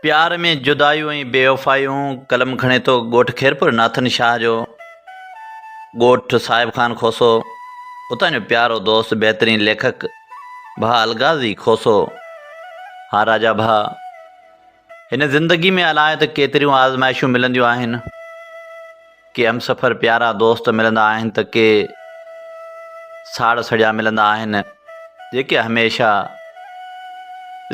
پيار ۾ جدايون ۽ بيوفايون قلم کڻي ٿو ڳوٺ خيرپور ناٿن شاهه جو ڳوٺ صاحب خان کوسو اتان جو پيارو دوست بهترين ليکڪ ڀاء الغازي کوسو ها راجا ڀاء هن زندگي ۾ الاء ته ڪيتريون آزمائشون ملنديون آهن، ڪي همسفر پيارا دوست ملندا آهن ته ڪي ساڙ سڙيا ملندا آهن، جيڪي هميشه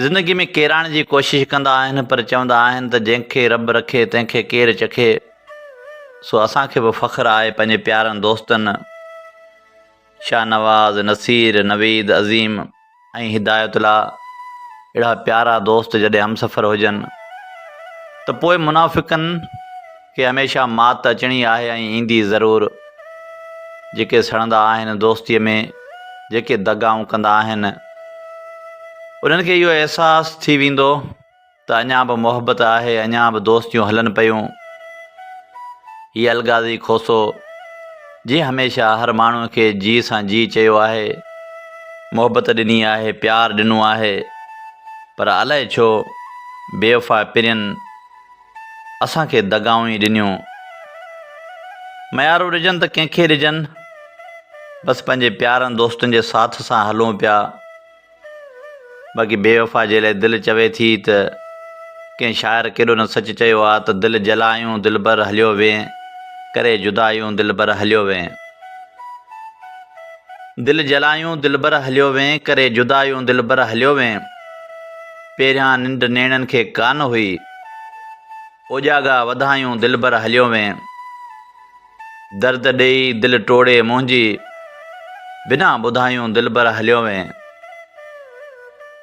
زندگي ۾ ڪيرائڻ جي ڪوشش ڪندا آهن پر چوندا آهن ته جنهن کي رب رکي تنهن کي ڪير چکي سو اسان کي به فخر آهي پنهنجي پيارن دوستن شاهنواز، نصير، نويد، عظيم ۽ هدايت الله اهڙا پيارا دوست جڏهن همسفر هجن ته پوء منافقن کي هميشه مات اچڻي آهي ۽ ايندي ضرور. جيڪي سڙندا آهن دوستيء ۾ جيڪي دغائون ڪندا آهن انهن کي اهو احساس ٿي ويندو. ته اڃا به محبت آهي، اڃا به دوستيون هلن پيون. هي الغازي کوسو، جنهن هميشه هر ماڻهوء کي جي سان جي چيو آهي، محبت ڏني آهي، پيار ڏنو آهي، پر الائي ڇو بيوفا پرين اسان کي دغائون ئي ڏنيون. ميارو ڏجن ته ڪنهن کي ڏجن، بس پنهنجي پيارن دوستن جي ساٿ سان هلون پيا. باقي بيوفا جي لاء دل چوي ٿي ته ڪنهن شاعر ڪيڏو نه سچ چيو آ ته دل جلايون دلبر هليو وين ڪري جدايون دلبر هليو وين دل جلايون دلبر هليو وين ڪري جدايون دلبر هليو وين پهريان ننڊ نيڻن کي ڪانه هئي اوڄاڳا وڌايون دلبر هليو وين. درد ڏيئي دل ٽوڙي منهنجي، بنا ٻڌايون دلبر هليو وئين.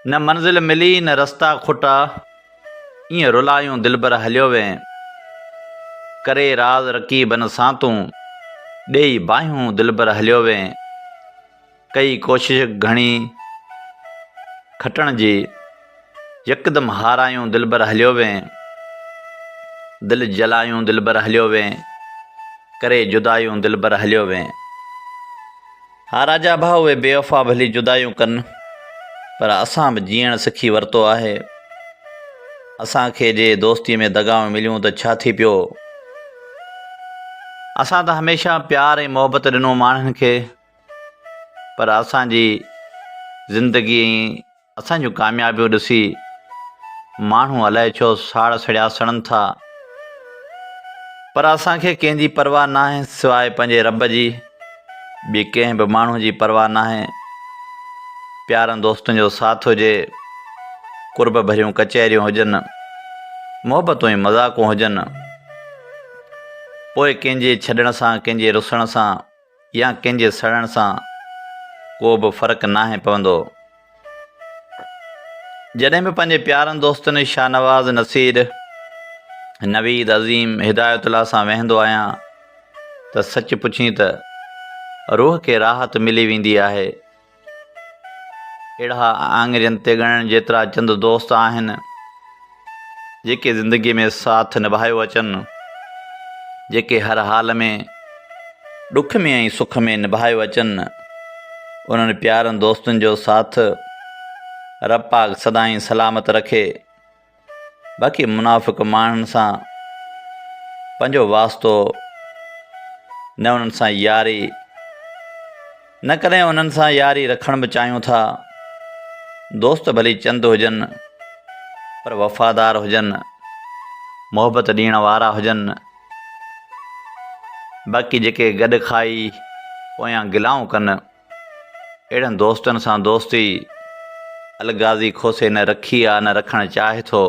نه منزل ملي نه رستا کٽا، ايئن رلايون دلبر هليو وئين. ڪري راز رقيبن سان تون، ڏيئي باهيون دلبر هليو وئين. ڪئي ڪوشش گهڻي کٽڻ جي، يڪدم هارايون دلبر هليو وين، دل جلايون دلبر هليو وين، ڪري جدايون دلبر هليو وين. ها راجا ڀاء اهي بيوفا ڀلي جدايون ڪن پر اسان به جيئڻ سکي ورتو آهي، اسان کي جي دوستي ۾ دغائون مليون ته ڇا ٿي پيو، اسان ته هميشه پيار ۽ محبت ڏنو ماڻهن کي، پر اسان جي زندگي ۽ اسان جون ڪاميابيون ڏسي ماڻهو الائي ڇو ساڙ سڙيا سڙن ٿا پر اسان کي ڪنهن جي پرواهه ناهي سواء پنهنجي رب جي ٻي ڪنهن به ماڻهو جي پرواهه ناهي پيارن دوستن جو ساٿ هجي قرب ڀريون ڪچهريون هجن محبتون ۽ مذاقون هجن پوء ڪنهن جي ڇڏڻ سان ڪنهن جي رسڻ سان يا ڪنهن جي سڙڻ سان ڪو به فرق ناهي پوندو. جڏهن به پنهنجي پيارن دوستن شاهنواز نصير، نويد عظيم، هدايت الله سان ويهندو آهيان ته سچ پڇين ته روح کي راحت ملي ويندي آهي. اهڙا آڱرين تي ڳڻڻ جيترا چند دوست آهن، جيڪي زندگيء ۾ ساٿ نڀايو اچن، جيڪي هر حال ۾، ڏک ۾ ۽ سک ۾ نڀايو اچن، انهن پيارن دوستن جو ساٿ رب پاڪ سدائين سلامت رکي. باقي منافق ماڻهن سان پنهنجو واسطو نه انهن سان ياري نه ڪڏهن انهن سان ياري رکڻ به چاهيون ٿا دوست ڀلي چند هجن پر وفادار هجن محبت ڏيڻ وارا هجن باقي جيڪي گڏ کائي پويان گلائون ڪن اهڙن دوستن سان دوستي الغازي کوسي نه رکي آ نه رکڻ چاهي ٿو.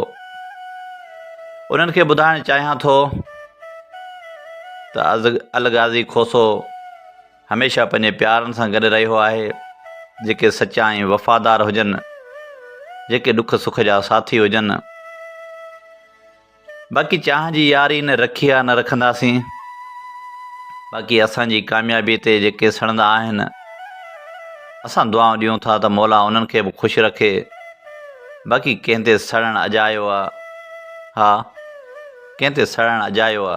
انهن کي ٻڌائڻ چاهيان ٿو ته الغازي کوسو هميشه پنهنجي پيارن سان گڏ رهيو آهي جيڪي سچا ۽ وفادار هجن جيڪي ڏک سک جا ساٿي هجن. باقي چانهه جي ياري نه رکي آ نه رکنداسين باقي اسان جي ڪاميابي تي جيڪي سڙندا آهن اسان دعائون ڏيون ٿا ته مولا انهن کي به خوش رکي باقي ڪنهن تي سڙڻ اجايو آ ها ڪنهن تي سڙڻ اجايو آ